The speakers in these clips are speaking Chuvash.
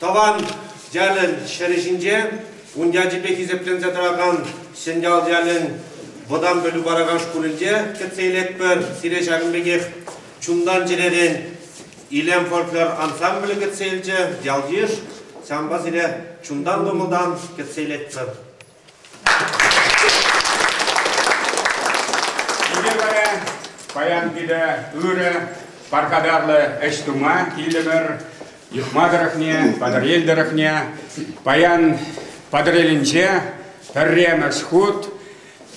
Тӑван ялӗн ҫӗрӗ ҫинче ун ячӗпе хисепленсе тӑракан Сӗнтял ялӗн вӑтам пӗлӳ паракан шкулӗнче кӗтсе илетпӗр. Сире ҫакӑн пекех чунтан-чӗререн Илем фольклор ансамблӗ кӗтсе илчӗ. Ял-йыш, санпа сире чунтан-кӑмӑлтан кӗтсе илетпӗр. Николай паян питӗ ырӑ, пархатарлӑ ӗҫ тума килтӗмӗр. Юхма тӑрӑхне, Патӑрьел тӑрӑхне. Паян Патӑрьелӗнче пӗрремӗш хут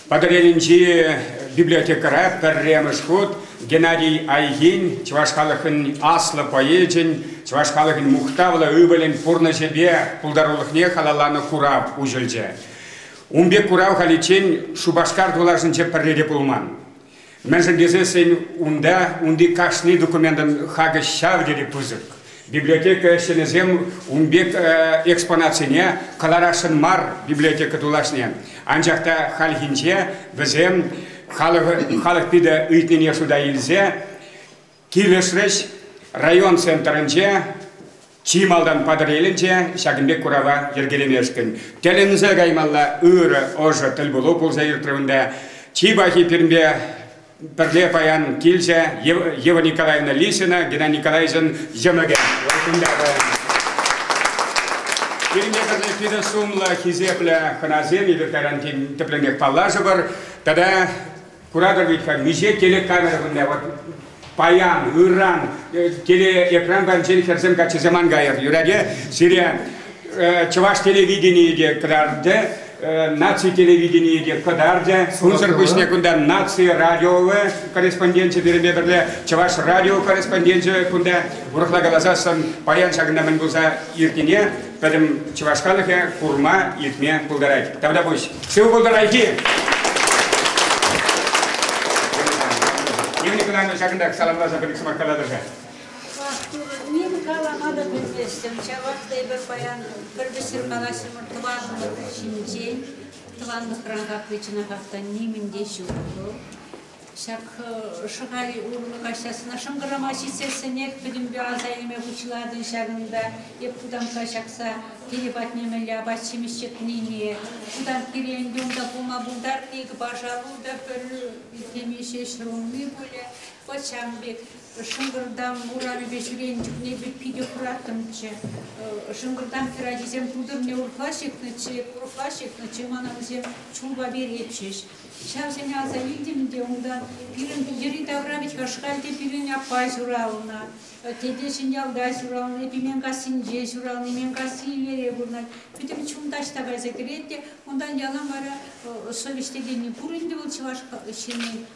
Патӑрьелӗнчи библиотекӑра пӗрремӗш хут Геннадий Айгин чӑваш халӑхӗн аслӑ поэчӗн, чӑваш халӑхӗн мухтавлӑ ывӑлӗн пурнӑҫӗпе пултарулӑхне халалланӑ курав уҫӑлчӗ. Ун пек курав халиччен Шупашкар тулашӗнче пӗрре те пулман. Мӗншӗн тесен унта унти кашни документӑн хакӗ ҫав тери пысӑк. Библиотека ӗҫченӗсем ун пек экспонатсене кӑларасшӑн мар библиотека тулашне. Анчах та хальхинче вӗсем халӑх питӗ ыйтнине шута илсе килӗшрӗҫ. Район центрӗнче чи малтан Патӑрьелӗнче ҫакӑн пек курава йӗркелемешкӗн тӗлӗнсе каймалла ырӑ, ӑшӑ тӗлпулу пулса иртрӗ унта. Чи пахи пирӗнпе пӗрле паян килчӗ Ева Николаевна Лисина, Геннадий Николаевичӑн йӑмӑкӗ. Валентина паян. Пирӗнпе пӗрле питӗ сумлӑ, хисеплӗ хӑнасем, эпир кайран тӗплӗнех паллашӑпӑр. Тата куратӑр вӗт миҫе телекамера кунта вот паян, ыран, телеэкран панчен хӗрсем каччӑсем ан кайӑр. Юрать, сире чӑваш телевиденийӗ те кӑтартӗ, наци телевиденийӗ те кӑтартӗ. Унсӑр пуҫне кунта наци радиовӗ корреспонденчӗ пирӗнпе пӗрле чӑваш радио корреспонденчӗ кунта урӑхла каласассӑн паян ҫакӑнта мӗн пулса иртнине пӗтӗм чӑваш халӑхӗ курма, илтме пултарать. Тавта пуҫ. Сывӑ пултӑр, Айхи! Евгений Николаевна ҫакӑнтах саламласа пӗр сӑмах калатӑр-ха. Ним калама та пӗлместӗм ҫавах та эпир паян пӗр-пӗр ҫыркалаҫҫӗмӗр тӑванлӑхӑр ҫинчен. Тӑванлӑхран капли чӑнахах та нимӗн те ҫук вӑл. Ҫак Шӑхаль урлӑ каҫсасна шӑнкӑрама ҫитсессӗнех пӗтӗмпе аса илме пуҫладӑм ҫакӑнта. Эп кутамкка ҫакса киле патне мӗнле апат-ҫимӗҫ ҫитнине, кутамккире ӗнтӗ унта пулма пултарни, пашалу та пӗр теме ҫеҫ рулми пулӗ. Вӑт ҫавӑн пек Шӑнкӑртам урамӗпе ҫӳренӗ чухне эпӗ питӗ хӑраттӑмччӗ. Шӑнкӑртам хӗрачисем тутӑрне урӑхла ҫыхнӑччӗ, урӑхла ҫыхнӑччӗ, мана вӗсем чулпа перетчӗҫ. Ҫавсене аса илтӗм те унтан, пирӗн йӗри-тавра вӗт-ха шкал те пирӗн аппа ҫуралнӑ, тете Ҫӗньялта ҫуралнӑ, Пименкассинче ҫуралнӑ, Именкасси Иллере пурӑнать. Пӗтӗм чун таҫта кайса кӗрет те унтан ялан вара совеҫ текенни пур ӗнтӗ вӑл чӑваш ҫынни.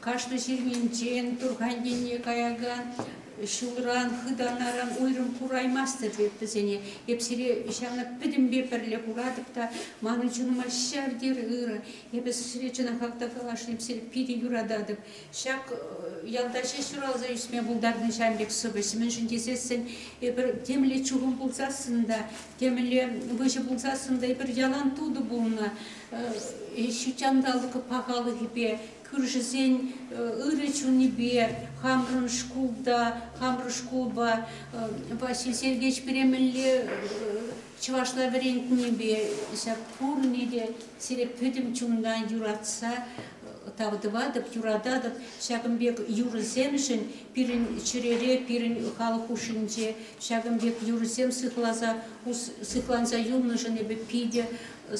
Кашни ҫырминчен, Турхан енне каякан ҫулран, хытанаран уйрӑм кураймастӑп эп вӗсене. Эп сире ҫавна пӗтӗмпе пӗрле куратӑп та манӑн чунӑма ҫав тери ырӑ. Эпӗ сире чӑнахах та калашлим, сире питӗ юрататӑп. Ҫак ялта ҫеҫ ҫуралса ӳсме пултарнӑ ҫав пек сӑвӑҫ. Мӗншӗн тесессӗн эпир темле чухӑн пулсассӑн та Темӗнле выҫӑ пулсассӑн та пӗр ялан тутӑ пулнӑ. Ҫутҫанталӑк пахалӑхӗпе, кӳршӗсен ырӑ чунӗпе хамӑрӑн шкулта, хамӑр шкулпа Василий Сергеевич пире мӗнле чӑвашла вӗрентнипе ҫак пурне те сире пӗтӗм чунтан юратса, тав тӑватӑп, юрататӑп. Ҫакӑн пек юрӑсемшӗн пирӗн чӗрере, пирӗн халӑх хушшинче ҫакӑн пек юрӑсем сыхласа, сыхланса юлнӑшӑн эпӗ питӗ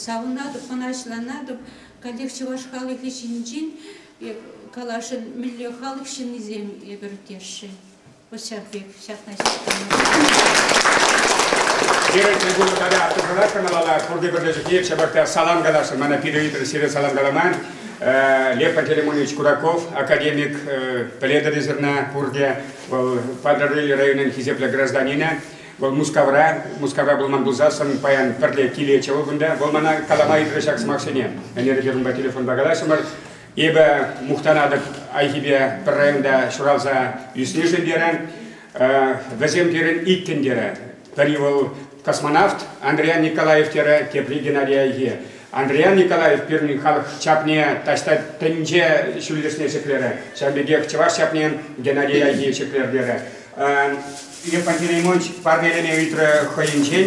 савӑнатӑп, мӑнаҫланатӑп. Каллех чӑваш халӑхӗ ҫинчен каласшӑн мӗнле халӑх ҫыннисем эпӗр тесшӗн. Пуҫҫан пек, ҫакна Пирӗн трибуна тата автозвонок каналалла пурте пӗрле чухне ҫапах салам каласшӑн. Мана пире ыйтӑр сире салам каламан. Лепа Телемонович Кураков академик пӗлетӗр зерна пурте. Вӑл Патӑрьел районӗн хисеплӗ гражданинӗ. Вӑл Мускавра, Мускавра пулман пулсассӑн паян пӗрле килетчӗ вӑл кунта. Вӑл мана калама ыйтрӗ ҫак сӑмахсене. Ӗнер эпир унпа телефонпа калаҫрӑмӑр. Эпӗ мухтанатӑп Айхипе пӗр районта ҫуралса ӳснишӗн терӗн. Вӗсем терӗн иккӗн терӗ. Пӗри вӑл космонавт Андриан Николаев терӗ, тепри Геннадий Айхи. Андриан Николаев пирӗн халӑх чапне таҫта тӗнче ҫӳллӗшне ҫӗклерӗ. Ҫавӑн пекех чӑваш чапнин Геннадий Айхи ҫӗклер терӗ. Лев Пантелеймонович парнелеме ыйтрӗ хӑйӗнчен.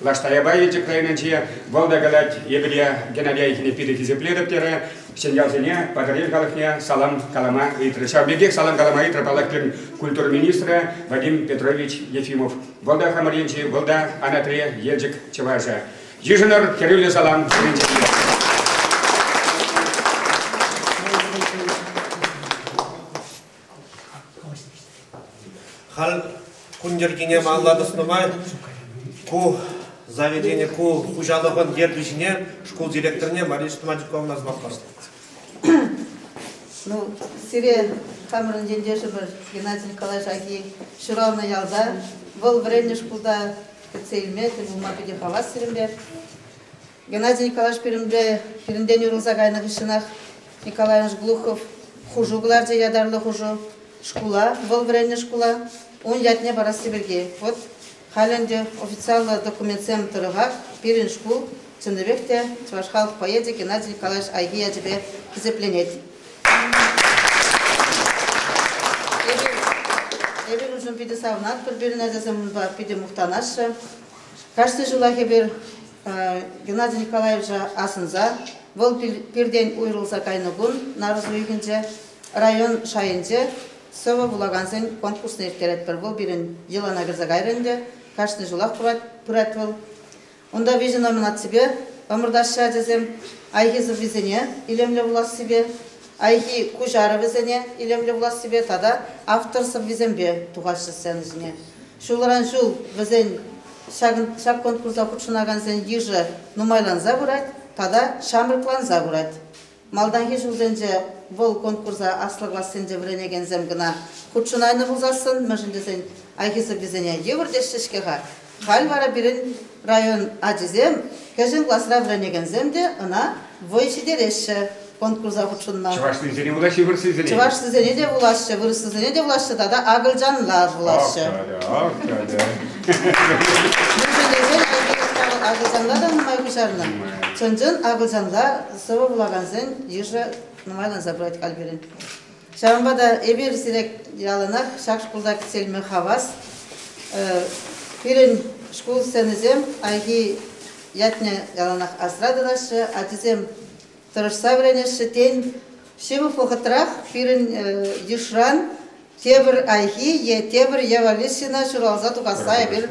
Лаш Таяпа Елчӗк районӗнче вӑл та калать, Евлия Геннадьевичне питӗ хисеплетӗп терӗ. Ҫӗньялсене, Патӑрьел халӑхне салам калама ыйтрӗ. Ҫав пекех салам калама ыйтрӗ паллах-кӗн культура министрӗ Вадим Петрович Ефимов. Вӑл та хамӑр енчи, вӑл та Анатри Елчӗк чӑвашӗ. Йышӑнӑр хӗрӳллӗ салам пуринчен Халь кун йӗркине малла тӑснӑ май ку заведени ку хуҫалӑхӑн ертӳҫине шкул директорне Мария Штматиковна звонкосна. Ну, сире хамӑрӑн ентешӗмӗр Геннадий Николаевич Аки ҫуралнӑ ялта. Вӑл вӗреннӗ шкулта кӗтсе илме тӗл пулма питӗ хавас сирӗнпе. Геннадий Николаевич пӳлӗмре пирӗнтен уйрӑлса кайнӑ хыҫҫӑнах Николаевич Глухов хушу кӑларчӗ ятарлӑ хушу. Шкула, вӑл вӗреннӗ шкула, ун ятне парасси пирки. Вӑт, халь ӗнтӗ официаллӑ документсем тӑрӑхах пирӗн шкул чӑннипех те чӑваш халӑх поэчӗ Геннадий Николаевич Айхи ячӗпе хисепленет. Эпир, эпир уншӑн питӗ савӑнатпӑр, пирӗн ачасем унпа питӗ мухтанаҫҫӗ. Кашни ҫулах эпир Геннадий Николаевича асӑнса вӑл пиртен уйрӑлса кайнӑ кун нарӑс уйӑхӗнче район шайӗнче сӑвӑ вулакансен конкурсне ирттеретпӗр. Вӑл пирӗн йӑлана кӗрсе кайрӗ ӗнтӗ. Кашни ҫулах пырать вӑл. Унта виҫӗ номинаципе ӑмӑртаҫҫӗ ачасем айхи-сӑввисене илемлӗ вулассипе, айхи куҫарӑвӗсене илемлӗ вулассипе тата автор сӑввисемпе тухаҫҫӗ сцена ҫине. Ҫулран ҫул вӗсен ҫак конкурса хутшӑнакансен йышӗ нумайланса пырать тата ҫамрӑкланса пырать. Малтанхи ҫулсенче вӑл конкурса аслӑ классенче вӗренекенсем кӑна хутшӑнайнӑ пулсассӑн, мӗншӗн тесен айхисӗррисене йывӑр теҫҫӗ-ҫке-ха. Халь вара пирӗн Район ачисем, кӗҫӗн класра вӗренекенсем те ӑна вӑй ҫитереҫҫӗ конкурса хутшӑнма. Чӑвашлисене вулаҫҫӗ, вырӑслисене? Чӑвашсисене те вулаҫҫӗ, вырӑслисене те вулаҫҫӗ тата акӑлчанла вулаҫҫӗ. Акӑлчанла. Мӗншӗнтесен Элтепер Савӑт акӑлчанла та нумай куҫарнӑ. Чӑн-чӑн акӑлчанла сӑвӑ вулакансен йышӗ нумай канса пырать халь пирӗн. Ҫавӑнпа та эпир сире яланах ҫак шкулта кӗтсе илме хавас. Пирӗн шкул сценисем хайхи ятне яланах асра тытаҫҫӗ, ачисем тӑрӑшса вӗренеҫҫӗ. Тен, ҫывӑх вӑхӑтрах пирӗн йышран тепӗр хайхи е тепӗр Ева Лисина ҫуралса тухасса эпир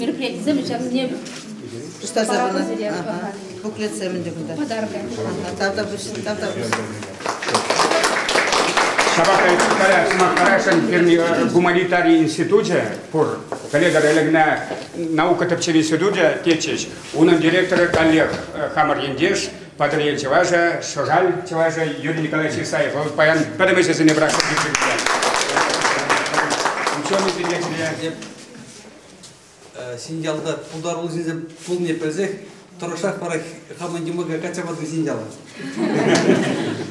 мероприятисем ҫавне пуҫтарса пынӑ буклетсем ӗнтӗ кунта подарка тавта пуҫ тавта пуҫ Ҫапах та сӑмах парасшӑн Перми гуманитари институчӗ пур пӗлетӗр ӗлӗкне наука тӗпчев институчӗ тетчӗҫ унӑн директорӗ Олег хамӑр ентеш Патӑрьел чӑвашӗ, Шӑшаль чӑвашӗ Юрий Николаевич Исаев. Вӑл паян пӗтӗм ӗҫӗсене пӑрахса ирттернӗ. Ученый директорӗ. Синьялта пултаруллисем пулни пӗлсех тӑрӑшах вара хамӑн йӑмӑка качча патӑм синьяла.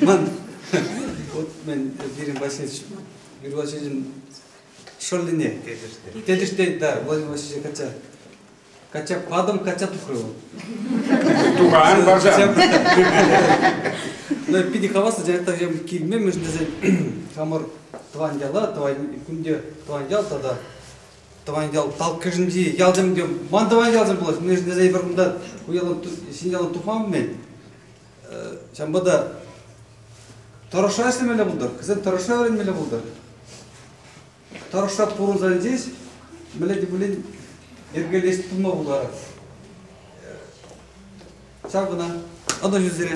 Ман вот мен Вирин Васильевич Вирин Васильевичӑн шӑллине тетӗште. Тетӗште, да, Владимир Васильевич качча Катя кадом Катя тухрӗ вӑл. Тухан баржан. Ну, питӗ хаваслӑ директорсем килме мӗн тесен хамӑр тӑван яла, тӑван кунде тӑван ял тата тӑван ял талккӑшӗнчи ялсем те ман тӑван ялсем пулать мӗн тесен эпир кунта ку ялан ҫин ялан тухман-мӗн ҫавӑнпа та тӑрӑшса ӗҫлемелле пултӑр кӗсен тӑрӑшса вӗренмелле пултӑр Тӑрӑшса пурӑнса илсен мӗнле те пулин йӗркелес пулма пултарать. Ҫав кӑна. Ӑнӑҫу сире.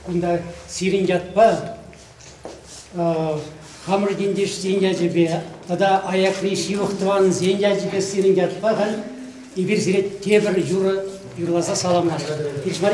Кунта сирӗн ятпа хамӑр ентешсен ячӗпе тата аякри ҫывӑх тӑванӗсен ячӗпе сирӗн ятпа халь эпир сире тепӗр юрӑ юрласа саламлатпӑр. Килӗш мар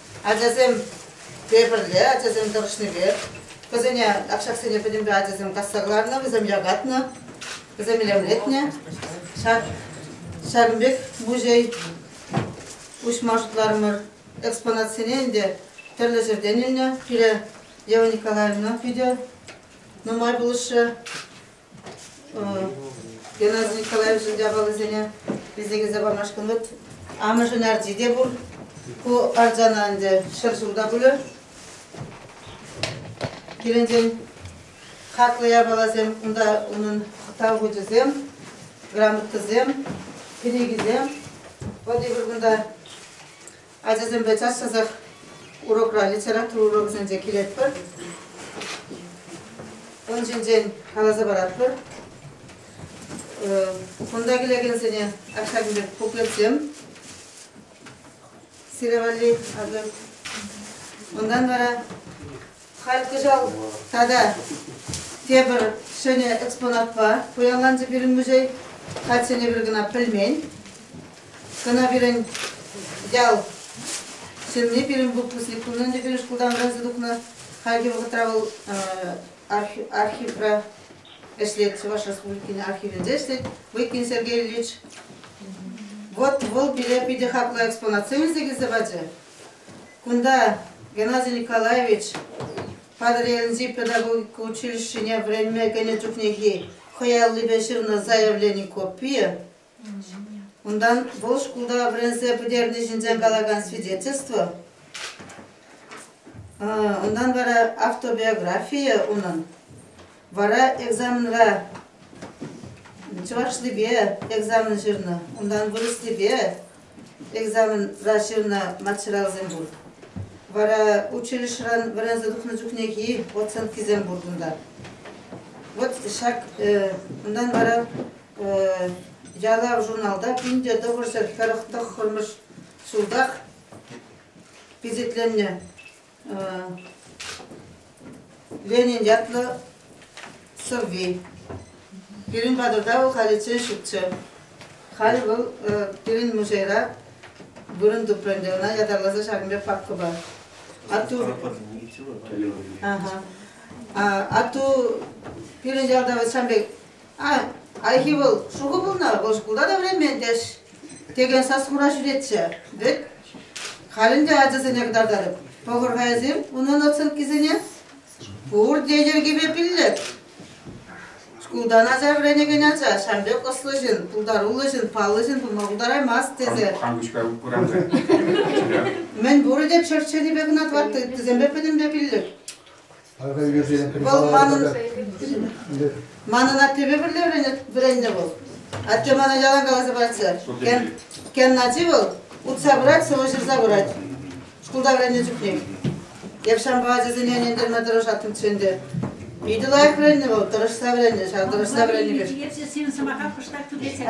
Ачасем пепӗрле, ачасем тӑрӑшнипе, вӗсене акшаксене пӗтӗмпе ачасем касса кӑларнӑ, вӗсем якатнӑ, вӗсем илемлетнӗ. Ҫакӑн пек музей уҫма шутларӑмӑр. Экспонатсене ӗнтӗ тӗрлӗ ҫӗртен илнӗ. Пире Ева Николаевна питӗ нумай пулӑшрӗ. Геннадий Николаевичӑн япалисене писекелсе памашкӑн вӗт. Амӑшӗн арчи те пур. Ку арчана ӗнтӗ ҫӗр ҫурта пулӗ. Килӗнчен хаклӑ япаласем, унта унӑн тав хучӗсем, грамотӑсем, кӗнекисем. Вот эпир кунта Ачасемпе час-часах урокра, литература урокӗсенче килетпӗр. Ун ҫинчен каласа паратпӑр. Кунта килекенсене ачасен пек буклетсем. Сире валли. Унтан вара Халь кӑҫал тата тепӗр ҫӗнӗ экспонатпа пуянланчӗ пирӗн музей. Хальччене пир кӑна пӗлмен. Кӑна пирӗн ял ҫынни пирӗн выпускник кунӗнче пирӗн шкултан вӗренсе тухнӑ. Хальхи вӑхӑтра вӑл архивра ӗҫлет, Чӑваш Республикин архивӗнче ӗҫлет Выкин Сергей Ильич. Вот вӑл пире питӗ хаклӑ экспонатсем илсе килсе пачӗ. Кунта Геннадий Николаевич Патӑрьелӗнчи педагогика училищине вӗренме кӗнӗ чухнехи хӑй аллипе ҫырнӑ заявлени копийӗ, унтан вӑл шкулта вӗренсе пӗтерни ҫинчен калакан свидетельство, унтан вара автобиографийӗ унӑн. Вара экзаменра чӑвашлипе экзамен ҫырнӑ, унтан вырӑслипе экзамена ҫырнӑ материалсем пур. Вара училищӑран вӗренсе тухнӑ чухнехи оценкисем пур кунта. Вот ҫак унтан вара ялав журналта пинте тӑхӑрҫӗр хӑрӑк тӑххӑрмӗш ҫултах пичетленнӗ Ленин ятлӑ сӑвви. Пирӗн патӑрта вӑл халиччен ҫукчӗ. Халь вӑл пирӗн музейра вырӑн тупрӑ ӗнтӗ ӑна ятарласа ҫакӑн пек папкӑпа. Атту атту пирӗн ялта вӑл сан пек Ай, хайхи вӑл шухӑ пулнӑ, вӑл шкулта та вӗренмен-тӗш, текен сас-хура ҫӳретчӗ. Вӗт, халь ӗнтӗ ачасене кӑтартатӑп. Пӑхӑр-ха эсир унӑн оценкисене. Пурте йӗркипе пиллӗк. Шкултан ача вӗренекен ача ҫавӑн пек ӑслӑ ҫын, пултаруллӑ ҫын, паллӑ ҫын пулма пултараймасть тесе. Хангучка пыранка. Мӗн пурӗ те чӗрчченипе кӑна тӑватти ыттисемпе пӗтӗмпе пиллӗк. Вӑл манӑн, манӑн аттепе пӗрле вӗреннӗ вӑл. Атте мана ялан каласа пачӗ. Кен ачи вӑл утса пырать, сӑвӑ ҫырса пырать. Шкулта вӗреннӗ чухне. Эп ҫампа ачасене ӗнентерме тӑрӑшаттӑмччӗ ӗнтӗ. Питӗ лайӑх вӗреннӗ вӑл, тӑрӑшса вӗреннӗ, ҫав тӑрӑшса вӗреннӗ пек. Эсӗ сирӗн сӑмаха кӑштах тӳрлетсе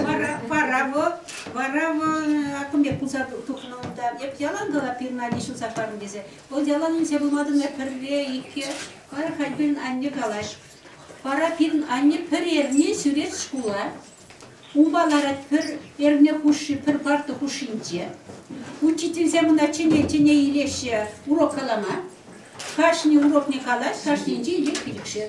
Вара, вара вӑл, вара вӑл акӑм пек пулса тухнӑ унта. Эп ялан кала пирӗн ачи ҫунса хӑварнӑ тесе. Вӑл ялан инҫе пулматӑн эп пӗрре, икке. Кайран халь пирӗн анне калать. Вара пирӗн анне пӗр эрне ҫӳрет шкула. Унпа ларать пӗр эрне хушши, пӗр парта хушшинче. Учительсем ӑна чӗне-чӗне илеҫҫӗ урок калама. Кашни урокне калать, кашнинче ирех-ирӗкшер.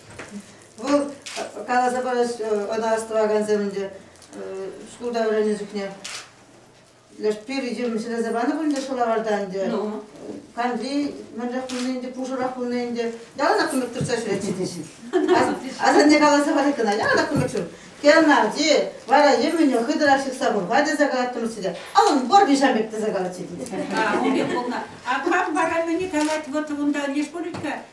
Вӑл каласа парас, ӑна астӑвакансем ӗнтӗ шкулта вӗреннӗ чухне леш пир ҫӗлесе панӑ пуль ӗнтӗ шӑлаварта ӗнтӗ. Ну. Канди мӗнрех пулни ӗнтӗ, пушӑрах пулни ӗнтӗ. Яланах кунлӑх тытса ҫӳретнӗ теҫҫӗ. Асанне каласа парать кӑна, яланах кунлӑх ҫур. Геннадий, вара йӗмӗне хытӑрах ҫыхса пӑрпа тесе калаттӑмӑр те, аллӑн вӑр виҫам пек тесе калатчӗ. А, у пек пулнӑ. А как баранини калать, вот вунда не шкулечка,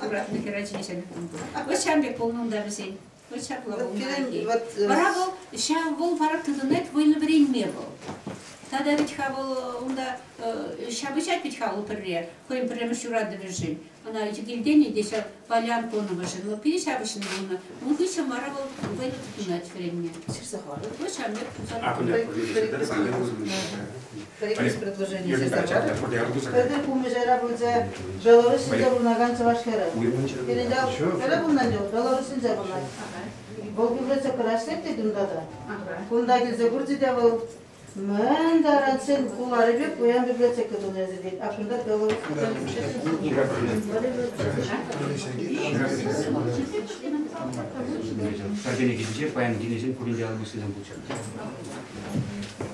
Куратнӑ хӗрачи ҫеҫ Вӑт ҫам пек пулнӑ унта вӗсен. Вӑт ҫапла пулнӑ. Вара вӑл, ҫав вӑл вара тытӑнать вӑйлӑ вӗренме вӑл. Тата вӗт-ха вӑл унта ҫапӑҫать вӗт-ха вӑл пӗрре, хӑйӗн пӗрремӗш юратӑвӗшӗн. Ӑна килтен-и те ҫав Полян Коновӑшӑн, вӑл питӗ ҫапӑҫнӑ пулнӑ. Ун хыҫҫӑн вара вӑл вӑйлӑ тытӑнать вӗренме. Ҫырса хӑварӑр. Вӑт ҫам пек пулса. Акӑ, Пӗрремӗш предложение Пӗрде пулмӑшайра пулчӗ Белоруссинче пурӑнакан чӑваш хӗрӗ. Пирӗн ял хӗрӗ пулнӑ ӗнтӗ, Белоруссинче пурӑнать. Вӑл библиотекӑра ӗҫлет тет унта та. Кунта килсе курчӗ те вӑл мӗн таранччен куларӗпе пуян библиотека тунӑ эсӗ тет. А кунта Белоруссинче Сардения кӗҫӗнче паян кинӗсем пурин ялӗ пуссисем пулчӗ.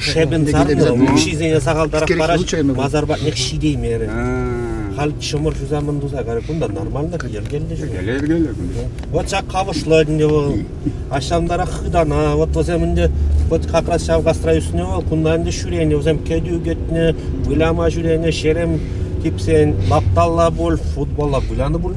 шӗпӗн сарнӑ укҫисене сахалтарах параҫ масар патнех ҫитеймерӗ. Халь чӑмӑр ҫуса мӗн туса кайрӗ кунта нормальлӑх йӗркеллӗ ҫук. Йӗркелле йӗркелле кунта. Вот ҫак кавӑшлӑ ӗнтӗ вӑл. Аҫҫантарах хытана, вот вӗсем ӗнтӗ вот как раз ҫав кастра ӳснӗ вӑл, кунта ӗнтӗ ҫӳренӗ, вӗсем кӗтӳ кӗтнӗ, выляма ҫӳренӗ, ҫерем типсен, лапталла пуль, футболла вылянӑ пуль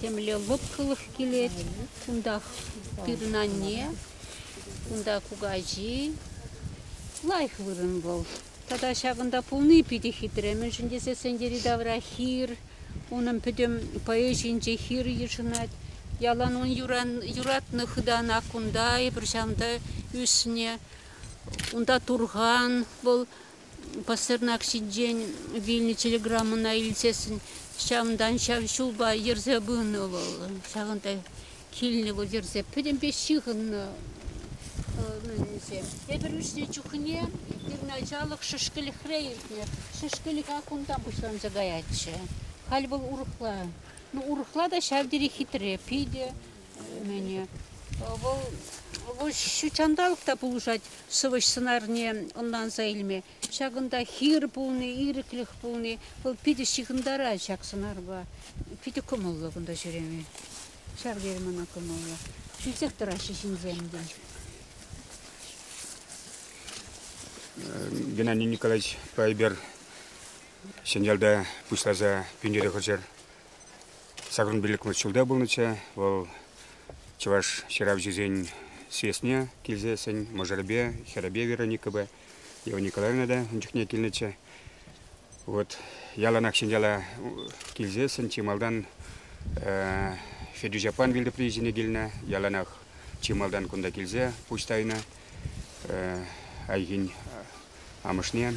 Темле лӑпкӑлӑх килет. Кунтах пирӗн анне, кунта кукаҫи. Лайӑх вырӑн вӑл. Тата ҫакӑнта пулни питӗ хитре. Мӗншӗн тесен йӗри-тавра хир, унӑн пӗтӗм поэзийӗнче хир йышӑнать. Ялан ун юратнӑ хытана кунта, эпир ҫавӑнта ӳснӗ. Унта турхан вӑл Пасарнак ҫинчен вилнӗ телеграммӑна илсессӗн ҫавӑнтан ҫав ҫулпа йӗрсе пынӑ вӑл. Ҫавӑнта килнӗ вӑл йӗрсе пӗтӗмпе ҫыхӑннӑ ӗнсем. Эпир ӳснӗ чухне пирӗн ачалӑх шӗшкӗлӗхре иртнӗ. Шӗшкӗлӗха кунтан пуҫланса каятчӗ. Халь вӑл урӑхла. Ну, урӑхла та ҫав тери хитре. Питӗ Вӑл ҫутҫанталӑк та пулӑшать сӑвӑҫ сӑнарне ӑнланса илме. Ҫакӑнта хир пулни, ирӗклӗх пулни, вӑл питӗ ҫыхӑнтарать ҫак сӑнарпа. Питӗ кӑмӑллӑ кунта ҫӳреме. Ҫав тери мана кӑмӑллӑ. Ҫӳлсех тӑраҫҫӗ ҫынсем, тен. Геннадий Николаевич Пайбер Ҫӗньялта пуҫласа пӳнере хӑчӑр. Ҫакӑн пиллӗкмӗш ҫулта пулнӑччӗ вӑл чӑваш ҫыравҫисен съездне килсессӗн мӑшӑрӗпе, хӗрӗпе Вероникӑпа, Ева Николаевна та ун чухне килнӗччӗ. Вот яланах ҫӗньяла килсессӗн чи малтан Федюш аппан вилтӑприйӗсене килнӗ. Яланах чи малтан кунта килсе пуҫ тайнӑ айхин амӑшне.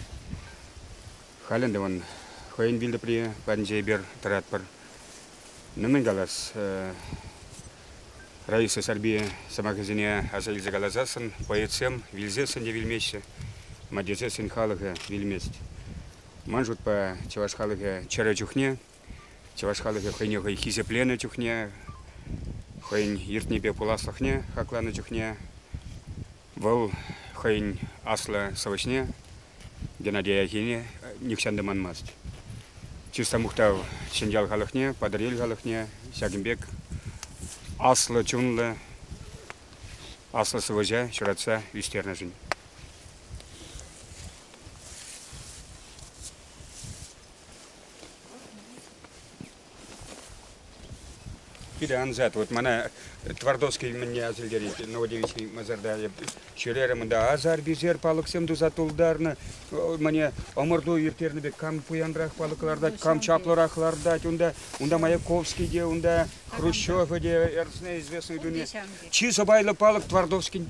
Халь ӗнтӗ ман хӑйӗн вилтӑпри патӗнче эпир тӑратпӑр. Ну мӗн калас, Раиса Сарпи сӑмахӗсене аса илсе каласассӑн поэтсем вилсессӗн те вилмеҫҫӗ, мать тесессӗн халӑхӗ вилмест. Ман шутпа, чӑваш халӑхӗ чӗрӗ чухне Чӑваш халӑхӗ хӑйне хӑй хисепленӗ чухне, хӑйӗн иртнипе пуласлӑхне хакланӑ чухне, вӑл хӑйӗн аслӑ сӑвӑҫне Геннадий Аякине нихҫан та манмасть. Чыста мухтав Ҫӗньял халӑхне, Патӑрьел халӑхне, ҫакӑн пек аслӑ чунлӑ, аслӑ сӑвӑҫа ҫуратса ӳстернӗшӗн. Питӗ ансат. Вот мана Твардовский мӗнне асилтерет, Новодевичный Мазарда. Ҫӳрерӗм унта асар-писер палӑксем туса тултарнӑ. Мане ӑмӑрту ирттернӗ пек кам пуянрах палӑк лартать, кам чаплӑрах лартать унта. Унта Маяковский те, унта Хрущев те, Эрсне известные дуне. Чи сӑпайлӑ палӑк Твардовскин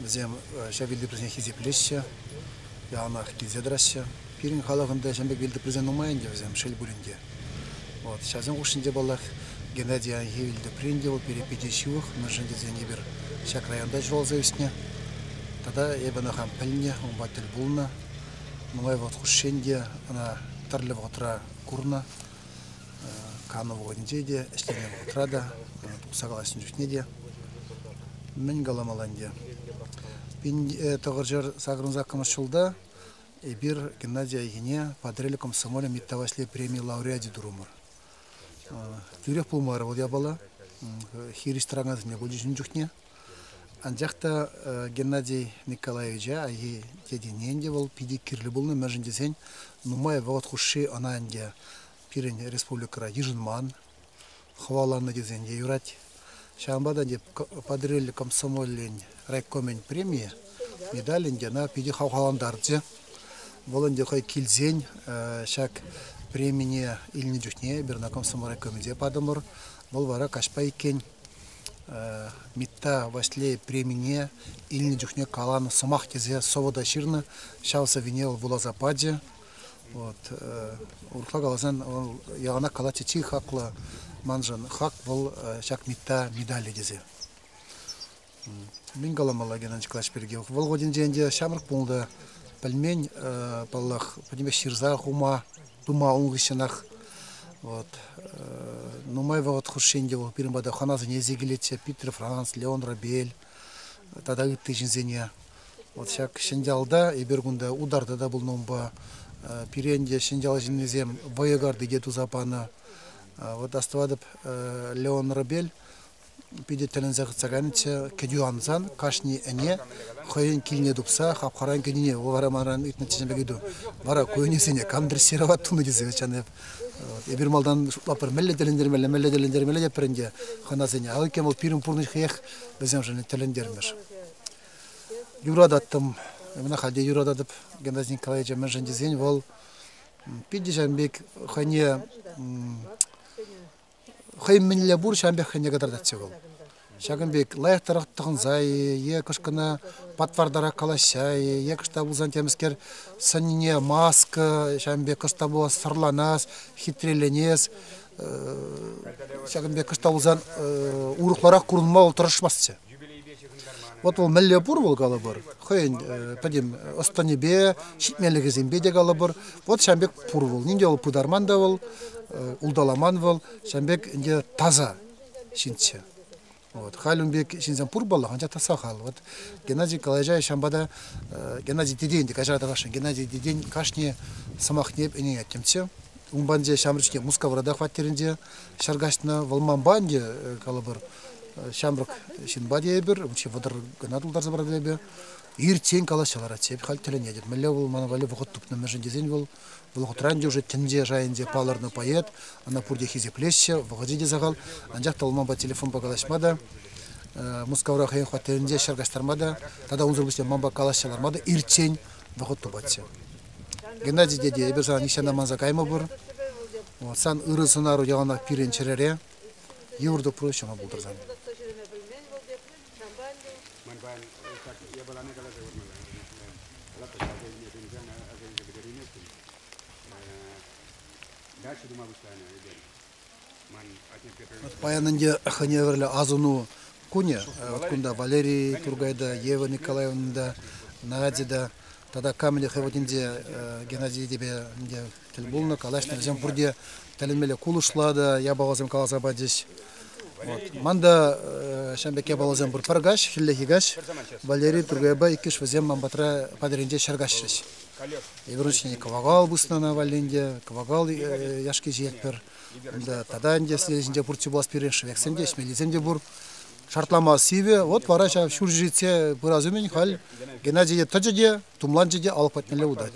Вӗсем ҫав вилтӑприсене хисеплеҫҫӗ, яланах килсе тӑраҫҫӗ. Пирӗн халӑхӑн та ҫамрӑк вилтӑприсем нумай ӗнтӗ вӗсем, шел пулин те. Вот, ҫавсен хушшинче, паллах, Геннадий Аянхи вилтӑприн те, вӑл перепете ҫывӑх, мӗншӗн тесен эпир ҫак районта ҫуралса ӳснӗ. Тата эпӗ ӑна хам пӗлнӗ, унпа тӗл пулнӑ. Нумай вӑхӑт хушшин те ӑна тӗрлӗ вӑхӑтра курнӑ. кану вӑхӑтӗнче те, ӗҫлеме вӑхӑтра та, тухса калаҫнӑ чухне те мӗн каламалла ӗнтӗ. Тӑхӑрҫӑр сакӑрӑн саккӑрмӗш ҫулта эпир Геннадий Айхине патриарх комсомолӗн Митта Ваҫлей премии лауреачӗ турӑмӑр. Тӳрех пулмарӗ вӑл япала. Хирӗҫ тӑракансене пулчӗҫ ун чухне. Анчах та Геннадий Николаевича Айхи тетене те вӑл питӗ кирлӗ пулнӑ, мӗншӗн тесен нумай вӑхӑт хушши ӑна ӗнтӗ пирӗн республикӑра йышӑнман, хӑваланӑ тесен те юрать. Ҫавӑнпа та ӗнтӗ Патӑрьел комсомолӗн райкомӗн премийӗ, медаль ӗнтӗ ӑна питӗ хавхалантарчӗ. Вӑл ӗнтӗ хӑй килсен ҫак премине илнӗ чухне эпир ӑна комсомол райкомӗнче патӑмӑр. Вӑл вара каҫпа иккен. Митта Ваҫлей премине илнӗ чухне каланӑ сӑмах тесе сӑвӑ та ҫырнӑ. Ҫав сӑввине вӑл вуласа пачӗ. Вот. Урӑхла каласан, вӑл яланах калатчӗ чи хаклӑ маншӑн хак вӑл ҫак Митта медалӗ тесе. Мӗн каламалла Геннадий Клач пирки? Вӑл хутӗнче ӗнтӗ ҫамрӑк пулнӑ, пӗлмен, паллах, пӗтӗмпех ҫырса хума, тума ун хыҫҫӑнах. Вот. Нумай вӑхӑт хушши ӗнтӗ вӑл пирӗн пата хӑнасене илсе килетчӗ. Питер, Франц, Леон Робель тата ытти ҫынсене. Вот ҫак Ҫӗньялта, эпир кунта ударта та пулнӑ унпа. Пире ӗнтӗ Ҫӗньял ҫыннисем вӑйӑ карти те туса панӑ. Вот астӑватӑп, Леон Робель питӗ тӗлӗнсе хытса кайнӑччӗ. Кӗтӳ ансан кашни ӗне хӑйӗн килне тупса хапхаран кӗнине вара манран ыйтнӑччӗ ҫемпе кӗтӳ. Вара ку ӗнесене кам дрессировать тунӑ тесе тесен эп эпир малтан шутлаппӑр мӗнле тӗлӗнтермелле, мӗнле тӗлӗнтермелле тепӗр ӗнтӗ хӑнасене. А иккен вӑл пирӗн пурнӑҫ хӑех вӗсемшӗн тӗлӗнтермӗш. Юрататтӑм, мӗн ахальте юрататӑп Геннадий Николаевича мӗншӗн тесен вӑл питӗ ҫавӑн пек хӑйне хӑй мӗнле пур ҫавӑн пек хӑйне кӑтартатчӗ вӑл. Ҫакӑн пек лайӑхтарах тӑхӑнса-и е кӑшкӑна патвартарах калаҫса-и е кӑшта пулсан темӗскер сӑнне маска ҫавӑн пек кӑста пулас сӑрланас, хитреленес ҫакӑн пек кӑшта пулсан урӑхларах курӑнма вӑл тӑрӑшмастчӗ. Вот вӑл мӗнле пур вӑл калӑпӑр, хӑйӗн пӗтӗм ӑс-тӑнӗпе, ҫитменлӗхӗсемпе те калӑпӑр. Вот ҫавӑн пек пур вӑл. Нинде вӑл пытарман та вӑл, улталаман вӑл, ҫавӑн пек ӗнтӗ таса ҫынччӗ. Вот. Халь ун пек ҫынсем пур паллах, анчах та сахал. Вот Геннадий Николаевича ҫавӑнпа та Геннадий Деден те каҫарата кашни Геннадий Деден кашни сӑмахне ӗненет темччӗ. Унпан те ҫамрӑк чухне Мускаврата хваттерӗнче Ҫар каҫнӑ вӑл манпа ӗнтӗ, калӑпӑр, ҫамрӑк ҫынпа те эпир, чи вӑтӑр кӑна тултарса пырать эпир. Иртсен калаҫса ларатчӗ, эпӗ халь тӗлӗнетӗп. Мӗнле вӑл мана валли вӑхӑт тупнӑ мӗншӗн тесен вӑл вӑл хутра ӗнтӗ уже тӗнче шайӗнче палӑрнӑ поэт, ӑна пурте хисеплеҫҫӗ, вӑхӑчӗ те сахал, анчах та вӑл манпа телефонпа калаҫма та, Мускавра хӑйӗн хваттерӗнче ҫӗр каҫтарма та тата унсӑр пуҫне манпа калаҫса ларма та иртсен вӑхӑт тупатчӗ. Геннадий тете, эпир сана нихҫан аманса каймӑпӑр. Вот сан ырӑ сӑнару яланах пирӗн чӗрере йывӑр тупру ҫӑмӑл пултӑр сан. Паян ӗнтӗ хӑневӗрлӗ асӑну кунӗ. Вот кунта Валерий Тургайда, Ева Николаевна та, Надя та Тата камӗнле хӑвӑртинче Геннадий Эдипе тӗл пулнӑ, калаҫнӑ. Вӗсем пурте тӗлӗнмелле кулӑшлатӑ, япаласем каласа пачӗҫ. Ман та ҫавӑн пек япаласем пур. Пӗр каҫ, хӗллехи каҫ Валерий Тургайпа иккӗш вӗсем ман патра патӑрӗнче ҫӗр каҫрӗҫ. Эпир ун ҫине кӑвакал пуснӑ ана валли ӗнтӗ, кӑвакал яшки ҫиетпӗр. Унта тата ӗнтӗ следующинче пуртси пулас пирӗн, шӗвексем те, ӗҫмеллисем те пур. шартлама сивӗ. Вот вара ҫав ҫур ҫитсе пырас умӗн халь Геннадий тӑчӗ те, тумланчӗ те алӑк патнелле утать.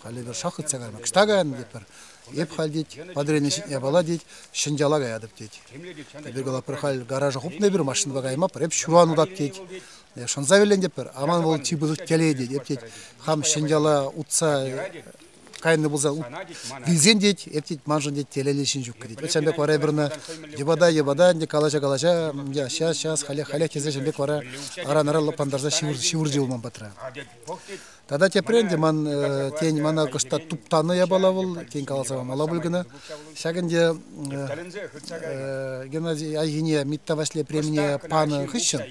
Халӗ эпир шах хытса кайма кӑшта кайӑн тетпӗр. Эп халь тет, падрейне ҫитме пала тет, ҫӗньяла каятӑп тет. Эпир кала пӗр халь гаража хупнӑ эпир машинӑпа кайма, пӗр эп ҫуран утат тет. Шӑнса вилен теппӗр, аман вӑл чи пысӑк телей тет. Эп тет, хам ҫӗньяла утса кайнӑ пулсан вилсен тет, эп тет, маншӑн тет, телейлӗ ҫын ҫук кӗрет. Вӑт ҫавӑн пек вара эпир ӑна йӑпата, йӑпата ӗнтӗ калаҫа калаҫа сейчас, сейчас, халех, халех тесе ҫавӑн пек вара аран-аран лӑпантарса ҫывӑрчӗ улман патра. Тата тепре ӗнтӗ ман тен мана кӑшта туптанӑ япала вӑл, тен каласа мала пуль кӑна. Ҫак ӗнтӗ Геннадий Айхине Митта Ваҫлей премине панӑ хыҫҫӑн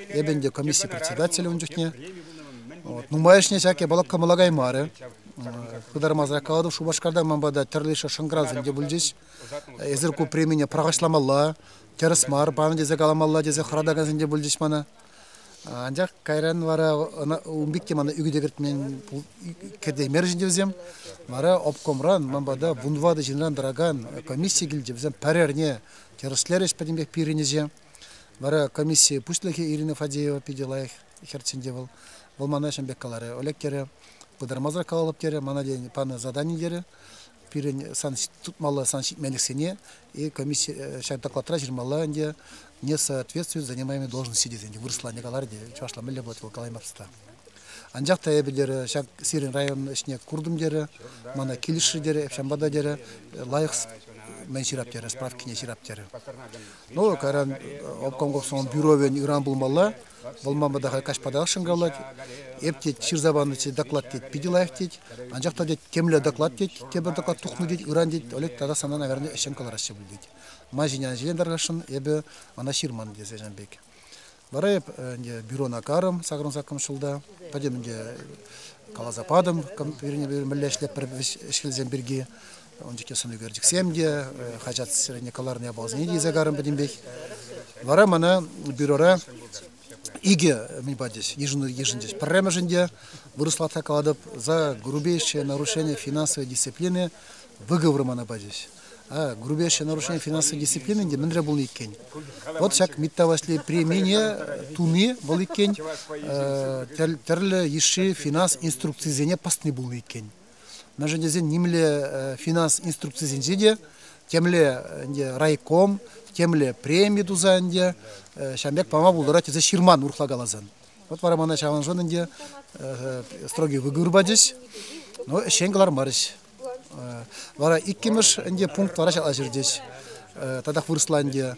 эпӗ ӗнтӗ комисси председателӗ ун чухне. Вот. Нумайӑшне ҫак япала кӑмӑла каймарӗ. пытармасӑрах калатӑп Шупашкарта ман пата тӗрлӗ шӑнкӑравсем те пулчӗҫ. Эсир ку премине пӑрахӑҫламалла, тӗрӗс мар панӑ тесе каламалла тесе хӑратакансем те пулчӗҫ мана. Анчах кайран вара ун пек те мана ӳкӗте кӗртмен кӗтеймерӗҫ ӗнтӗ вӗсем. Вара обкомран ман пата вунтӑватӑ ҫынран тӑракан комисси килчӗ. Вӗсем пӗрерне тӗрӗслерӗҫ пӗтӗмпех пирӗнӗҫе. Вара комисси пуҫлӑхӗ Ирина Фадеева питӗ лайӑх хӗрччен те вӑл. Вӑл мана ҫын пек каларӗ. Олег терӗ, пытармасӑрах калалӑп терӗ, мана тен панӑ задани терӗ. Пирӗн сан тытмалла сан ҫитменлӗхсене и комиссия э, ҫак докладра ҫырмалла ӗнтӗ, не соответствует занимаемой должности тесе ӗнтӗ вырӑсла не калар те чӑвашла мӗнле будет вӑл калаймасса. Анчах та эпӗ терӗ, ҫак сирӗн район ӗҫне куртӑм терӗ, мана килӗшрӗ терӗ, Эпшамба та терӗ, лайӑх мен ҫырап терӗ, справкине ҫырап терӗ. Ну, каран э, обком государственном бюровен ыран пулмалла, Вӑл манпа та каҫпа та шӑнкавлать. Эп, тет, ҫырса панӑ тет, доклад, тет, питӗ лайӑх, тет. Анчах та, тет, темле доклад, тет, тепӗр доклад тухнӑ, тет, ыран, тет, Олег тата сана, наверное, ӗҫчен кӑлараҫҫӗ пуль, тет. Ман ҫине ӗҫен тархасшӑн, эпӗ мана ҫырман, тесе ҫан пек. Вара эп ӗнтӗ бюрона карӑм сакӑрӑн саккӑм ҫулта. Пӗтӗм ӗнтӗ каласа патӑм, вирне мӗнле ӗҫлетпӗр ӗҫкелсем пирки. Ун чухне сӑнӳкерчӗксем те, хаҫатсене кӑларнӑ япаласене те илсе карӑм пӗтӗмпех. Вара мана бюрора икӗ, мӗн патис, йышӑнчӗҫ. Пӗрремӗшӗн те, вырӑслатха калатӑп, за грубейшее нарушение финансовой дисциплины выговор мана пачӗҫ. А грубейшее нарушение финансовой дисциплины те мӗнре пулнӑ иккен? Вот ҫак Митта Васли премине туни вӑл иккен, тӗрлӗ йышши финанс инструкцисене пӑсни пулнӑ иккен. мӗншӗн тесен нимле финанс инструкцисенче те темле ӗнтӗ райком, темле преми туса ӗнтӗ ҫавӑн пек пама пултарать тесе ҫырман урӑхла каласан. Вот вара мана ҫавӑншӑн ӗнтӗ строгий выгур пачӗҫ, но ӗҫчен кӑлармарӗҫ. Вара иккӗмӗш ӗнтӗ пункт вара ҫала ҫыртӗҫ. Татах вырӑсла ӗнтӗ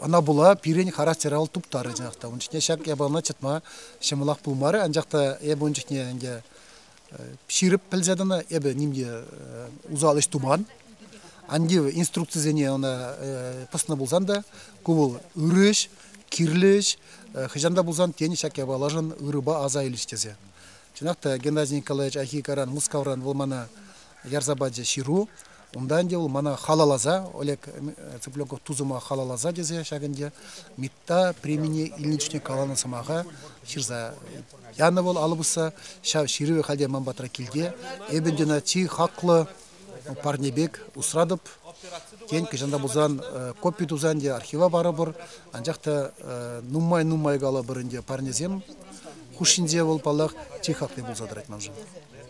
Ӑна пула пирӗн характер ал туптарӗ чӑнах та. Ун чухне ҫак япалана чӑтма ҫӑмӑлах пулмарӗ, анчах та эпӗ ун чухне ӗнтӗ ҫирӗп пӗлсе тӑнӑ, эпӗ нимте усал ӗҫ туман. Анти инструкцисене ӑна пӑснӑ пулсан та ку вӑл ырӑ ӗҫ, кирлӗ ӗҫ, хӑҫан та пулсан тен ҫак япалашӑн ырӑпа аса илӗҫ тесе. Чӑнах та Геннадий Николаевич Ахикаран, Мускавран вӑл мана ярса пачӗ ҫыру. Унта ӗнтӗ вӑл мана халалласа, Олег Цыпленков тусӑма халалласа тесе ҫак ӗнтӗ МИТта премине илнӗ чухне каланӑ сӑмаха ҫырса янӑ вӑл алӑ пусса. Ҫав ҫырӑвӗ халӗ ман патра килте. Эпӗ ӗнтӗ ӑна чи хаклӑ парне пек усратӑп. Тен, кӑҫан та пулсан копи туса ӗнтӗ архива парӑпӑр. Анчах та нумай-нумай калӑпӑр ӗнтӗ парнесем хушшинче вӑл, паллах, чи хакли пулса тӑрать маншӑн.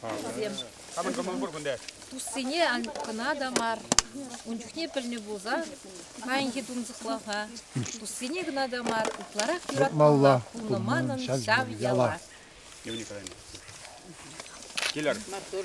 Проблем. Хамӑн кӑмӑл пур кунта. Туссене кӑна та мар, ун чухне пӗлнӗ пулсан, паянхи тунсӑхлӑха туссене кӑна та мар, ытларах юратмалла пулнӑ манӑн ҫав яла. Килер. Маттур.